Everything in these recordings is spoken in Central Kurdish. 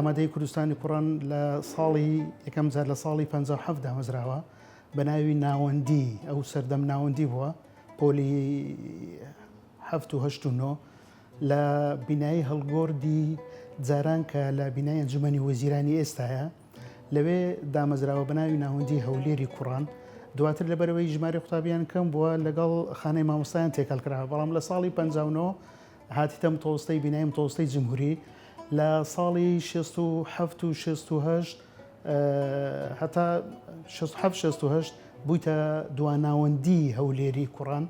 ئامادەی کوردستانی کوڕان لە ساڵی یەکەم جار لە ساڵی 1950 دامەزراوە بە ناوی ناوەندی ئەو سەردەم ناوەندی بووە پۆلی هەفتهشتنۆ لە بینایی هەڵگۆڕدی جاران کە لە بینای ئەنجومەنی وەزیرانی ئێستایە لەوێ دامەزراوە بەناوی ناوەندی هەولێری کوڕان دواتر لەبەرەوەی ژماری قوتابیان کەم بووە لەگەڵ خانەی مامۆستایان تێکەڵ کراوە بەڵام لە ساڵی 59 هاتیتەم تۆستەی بینایم تۆستەی جمهوری لە ساڵی 1970 و 1970 هەتا 1970 بوویتە دواناوەندی هەولێری کوڕان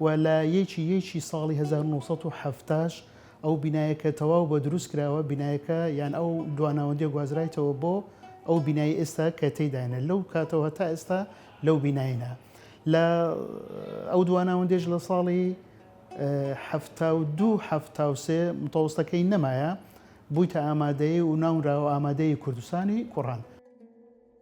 و لە یەکی یەکی ساڵی هەزار و نۆ سەد و حەفتا ش ئەو بینایەکە تەواو بە دروست کراوە بینایەکە یان ئەو دواناوەندیە گوازرایتەوە بۆ ئەو بینای ئێستا کە تێداینە لەو کاتەوە هەتا ئێستا لەو بیناینە لە ئەو دواناوەندێش لە ساڵی حەفتا و دوو حەفتا و سێ متەوەستەکەی نەمایە بوویتە ئامادەی و ناونراوە ئامادەی کوردستانی کوڕان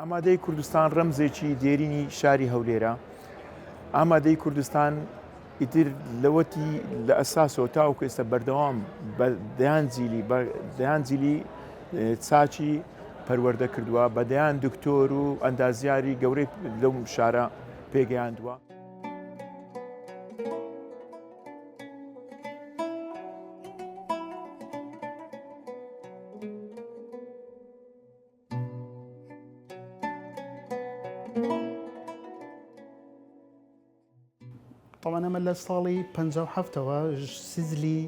ئامادەی کوردستان ڕەمزێکی دێرینی شاری هەولێرە ئامادەی کوردستان ئیتر لەوەتی لە ئەساسەوە تاوکو ئێستا بەردەوام دەیان جیلی دەیان جیلی چاچی پەروەەردە کردووە بە دەیان دکتۆر و ئەندازیاری گەورەی لەو شارە پێگەیاندووە. ئەمە لە ساڵی 1970ەوە سزلی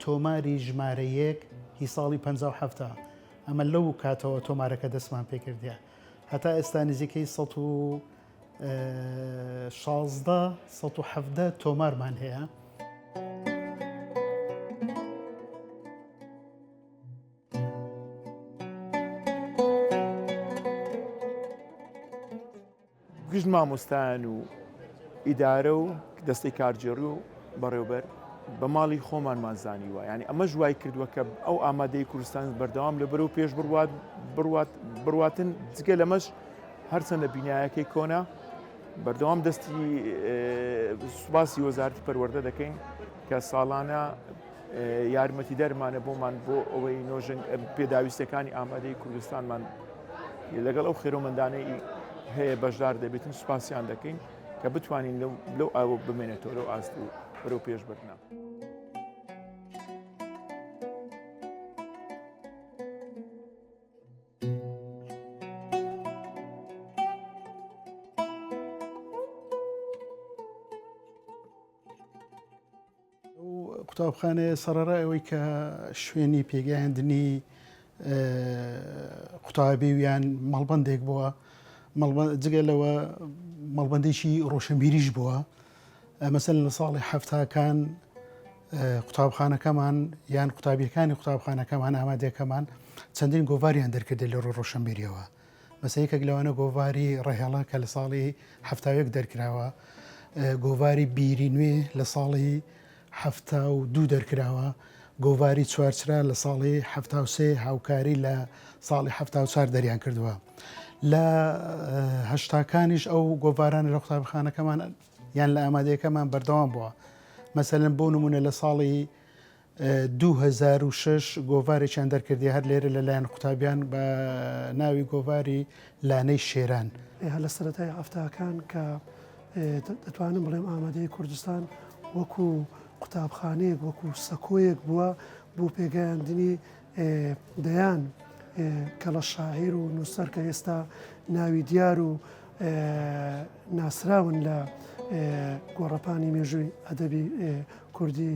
تۆماری ژمارە یەک هی ساڵی 1970 ئەمە لەو کاتەوە تۆمارەکە دەستمان پێکردە هەتا ئێستا نزیکەی 100 شازدە سەد و حەڤدە تۆمارمان هەیە. گشت مامۆستایان و ئیدارە و دەستی کارگێڕی و بەڕێوبەر بە ماڵی خۆمانمان زانیوە یعنی ئەمە ژوای کردووە کە ئەو ئامادەی کوردستان بەردەوام لە بەرەو پێش بڕوات بڕوات بڕواتن جگە لەمەش هەرچەندە بینایەکەی کۆنە بەردەوام دەستی سوپاسی وەزارتی پەروەەردە دەکەین کە ساڵانە یارمەتی دەرمانە بۆمان بۆ ئەوەی نۆژن پێداویستەکانی ئامادەی کوردستانمان لەگەڵ ئەو خێرۆمەندانەی هەیە بەشدار دەبێتن سوپاسیان دەکەین کە بتوانین لەو ئاوە بمێنێتەوە لەو ئاست و بەرەو پێش بردنا. قوتابخانەیە سەرڕای ئەوەی کە شوێنی پێگەیاندنی قوتابی ویان مەڵبندێک بووە جگە لەوە مەڵبندێکی ڕۆشنبیریش بووە مەسەلەن لە ساڵی حەفتاکان قوتابخانەکەمان یان قوتابیەکانی قوتابخانەکەمان ئامادەکەمان چەندین گۆڤاریان دەرکرد لە ڕۆ ڕۆشنبیریەوە مەسەیەکێک لەوانە گۆڤاری ڕێهێڵە کە لە ساڵی هەفتاوێک دەرکراوە گۆڤاری بیری نوێ لە ساڵی حەفتا و دوو دەرکراوە، گۆڤاری چوارچرا لە ساڵی حەفتا و سێ هاوکاری لە ساڵی حەفتا و چوار دەریان کردووە. لە هەشتاکانیش ئەو گۆڤارانە لە قوتابخانەکەمان یان لە ئامادەیەکەمان بەردەوام بووە. مەسەلەن بۆ نمونە لە ساڵی 2006 گۆڤارێکیان دەرکردی هەر لێرە لەلایەن قوتابیان بە ناوی گۆڤاری لانەی شێران. لە سەرەتای هەفتاکان کە دەتوانم بڵێم ئامادەیی کوردستان وەکو قوتابخانەیەک وەکو سەکۆیەک بووە بۆ پێگەیاندنی دەیان کەڵە شاعیر و نووسەر کە ئێستا ناوی دیار و ناسراون لە گۆڕەپانی مێژووی ئەدەبی کوردی.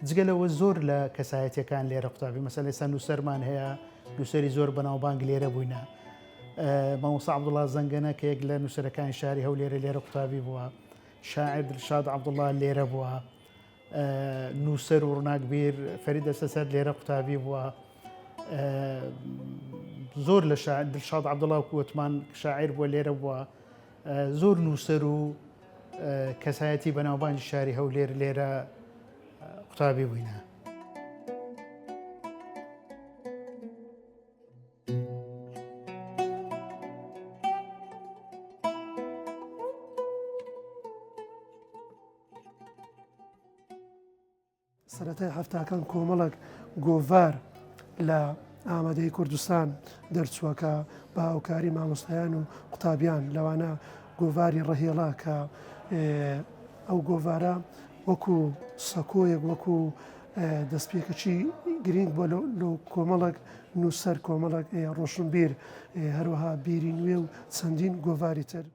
جگە لەوە زۆر لە کەسایەتیەکان لێرە قوتابی مەسەل ئێستا نووسەرمان هەیە نووسری زۆر بەناوبانگ لێرە بووینە مامۆسا عبدوڵا زەنگەنە کە یەک لە نووسەرەکانی شاری هەو لێرە لێرە قوتابی بووە شاعر دلشاد عبدوڵا لێرە بووە نووسەر و ڕناکبیر فەری دەسە سەر لێرە قوتابی بووە زۆر لە دلشاد عبدڵاو کووتمان شاعر بووە لێرە بووە زۆر نووسەر و کەسایەتی بەناوبانگی شاری هەولێر لێرە قوتابی بووینە. سەرەتای حەفتاکان کۆمەڵێک گۆڤار لە ئامادەی کوردستان دەرچووە کە بە هاوکاری مامۆستایان و قوتابیان لەوانە گۆڤاری ڕەهێڵا کە ئەو گۆڤارە وەکو سەکۆیەک وەکو دەستپێکەچی گرنگ بۆ لە کۆمەڵک نووسەر کۆمەڵک ڕۆشنبیر هەروەها بیری نوێ و چەندین گۆڤاری تر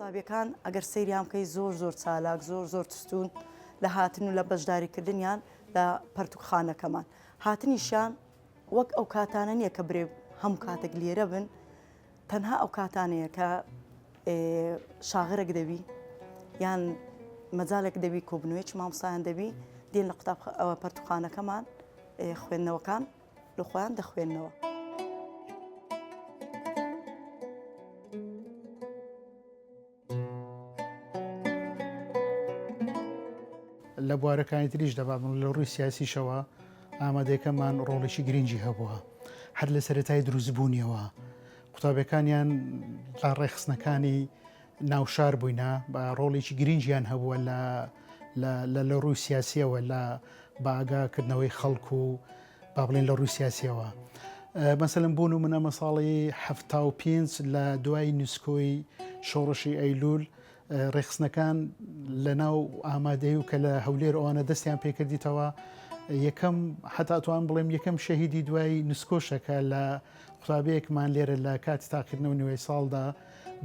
قوتابیەکان ئەگەر سەیریان بکەی زۆر زۆر چالاک زۆر زۆر تستون لە هاتن و لە بەشداریکردنیان لە پەرتوکخانەکەمان هاتنیشان وەک ئەو کاتانە نییە کە برێ هەم کاتێک لێرە بن تەنها ئەو کاتانەیە کە شاغرێک دەبی یان مەجالێک دەبی کۆبنەوەیکی مامۆسایان دەبی دێن لە قوتاب ئەوە پەرتوخانەکەمان خوێندنەوەکان لە خۆیان دەخوێندنەوە. لە بوارەکانی تریشدا با بڵێم لە ڕووی سیاسیشەوە ئامادەکەمان ڕۆڵێکی گرنگی هەبووە هەر لە سەرەتای دروستبوونیەوە قوتابەکانیان تا ڕێخستنەکانی ناوشار بووینە بە ڕۆڵێکی گرنگیان هەبووە لە لە لە ڕووی سیاسیەوە لە باگاکردنەوەی خەڵکو و با بڵێن لە ڕووی سیاسیەوە مەسەلم بوون و منە مە ساڵی هەفتا و پێنج لە دوای نوسکۆی شۆڕشی ئەیلول ڕێخستنەکان لە ناو ئامادەی و کە لە هەولێر ئەوانە دەستیان پێکردیتەوە یەکەم حتاتوان بڵێم یەکەم شەهیدی دوای نسکۆشەکە لە قوتابەیەکمان لێرە لە کاتی تاقیکردنەوە نوێی ساڵدا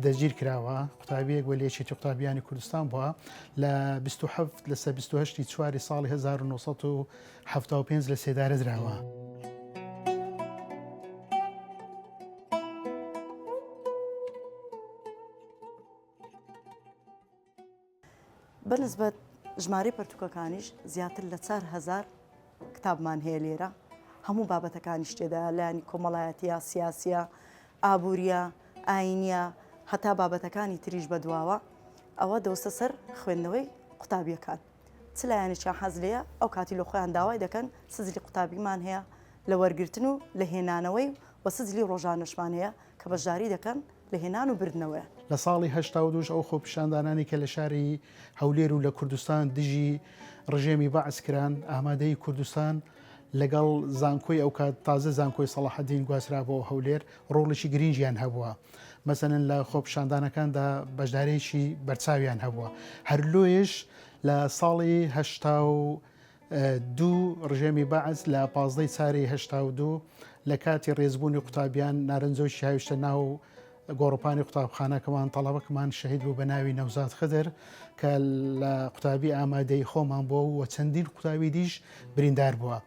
دەگیر کراوە قوتابیەک وە لێچێتی قوتابیانی کوردستان بووە لە 1970 لەسەر 1970 چواری ساڵی 1970 حەفتا و پێنج لە سێدارە دراوە. بە نسبەت ژمارەی پەرتوکەکانیش زیاتر لە چار هزار کتابمان هەیە لێرە هەموو بابەتەکانی شتێدا لایانی کۆمەڵایەتە سیاسە ئابوووریە ئاینە هەتا بابەتەکانی تریش بەدواوە ئەوە دەوسە سەر خوێندنەوەی قوتابیەکان. چ لایەنێکیان حەز لێیە ئەو کاتی لە خۆیان داوای دەکەن سجلی قوتابیمان هەیە لە وەرگرتن و لە هێنانەوەی و سجلی ڕۆژانەشمان هەیە کە بەشداری دەکەن لە هێنان و بردنەوەیان. لە ساڵی هەشتا و دوو ئەو خۆپیشاندانانەی کە لە شاری هەولێر و لە کوردستان دژی ڕژێمی بەعس کران، ئامادەیی کوردستان لەگەڵ زانکۆی ئەوکات، تازە زانکۆی سەڵاحەدین گواسترا بۆ هەولێر، ڕۆڵیکی گرینگیان هەبووە مەسەن لە خۆپشاندانەکاندا بەشدارێکی بەرچاویان هەبووە هەر لۆیش لە ساڵی هشتا و دوو ڕژێمی بەعس لە پازدەی چاری هشتا و دوو لە کاتی ڕێزبوونی قوتابیان نارنجۆکی هاویشتە ناو گۆڕپانی قوتابخانەکەمان تەڵەبەکمان شەهید بوو بە ناوی نەوزاد خدر کە لە قوتابی ئامادەی خۆمان بۆ و چەندین قوتابی دیش بریندار بووە.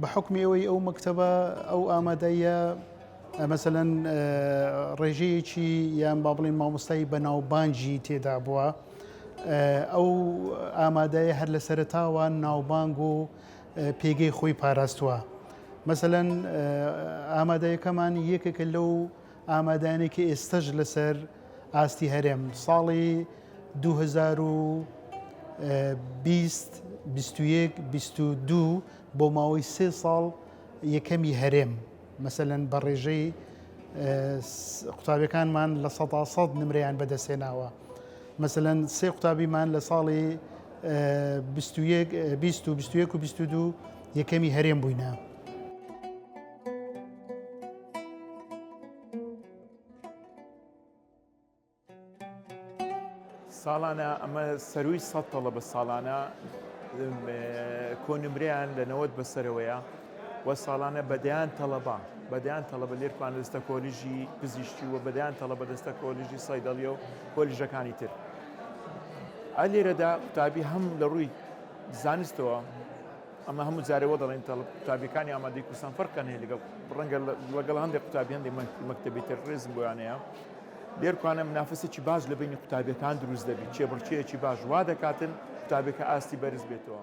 بە حوکمی ئەوەی ئەو مەکتەبە ئەو ئامادەیە مەسەەن ڕێژەیەکی یان با بڵێن مامۆستایی بەناوبانجی تێدا بووە ئەو ئامادەیە هەر لە سەرتاوە ناوبانگ و پێگەی خۆی پاراستووە مەسەەن ئامادەیەکەمان یەکێکە لەو ئامادانێکی ئێستەش لەسەر ئاستی هەرێم ساڵی 2020 21 22 بۆ ماوەی سێ ساڵ یەکەمی هەرێم مەسەەن بە ڕێژەی قوتابەکانمان لە سە سەد نمریان بەدەستێناوە مەسەەن سێ قوتابیمان لە ساڵی 20 و 22 یەکەمی هەرێم بووینە. ساڵانە ئەمە سەروی سە تەڵەبە ساڵانە کۆنمریان لە نەوەت بەسەرەوەیە و ساڵانە بەدەیان تەڵەبا بەدەیان تەڵەبە لێرپان دەستە کۆلیژی پزیشتی و بەدەیان تەڵەبە دەستە کۆلیژی سایدەڵیە و کۆلیژەکانی تر ئە لێرەدا قوتابی هەم لە ڕووی زانستەوە ئەمە هەموو جارێ وە دەڵێن تەڵب قوتابیەکانی ئامادەی کوردستان فەرقیان هەیە لەگەڵ ڕەنگە لەگەڵ هەندێک قوتابی هەندێک مەکتەبی تر ڕێزم بۆیان هەیە لێرکانە منافسێکی باش لە بینی قوتابیەکان دروست دەبیت چێبڕکێکی باش وا دەکاتن قوتابێکە ئاستی بەرز بێتەوە.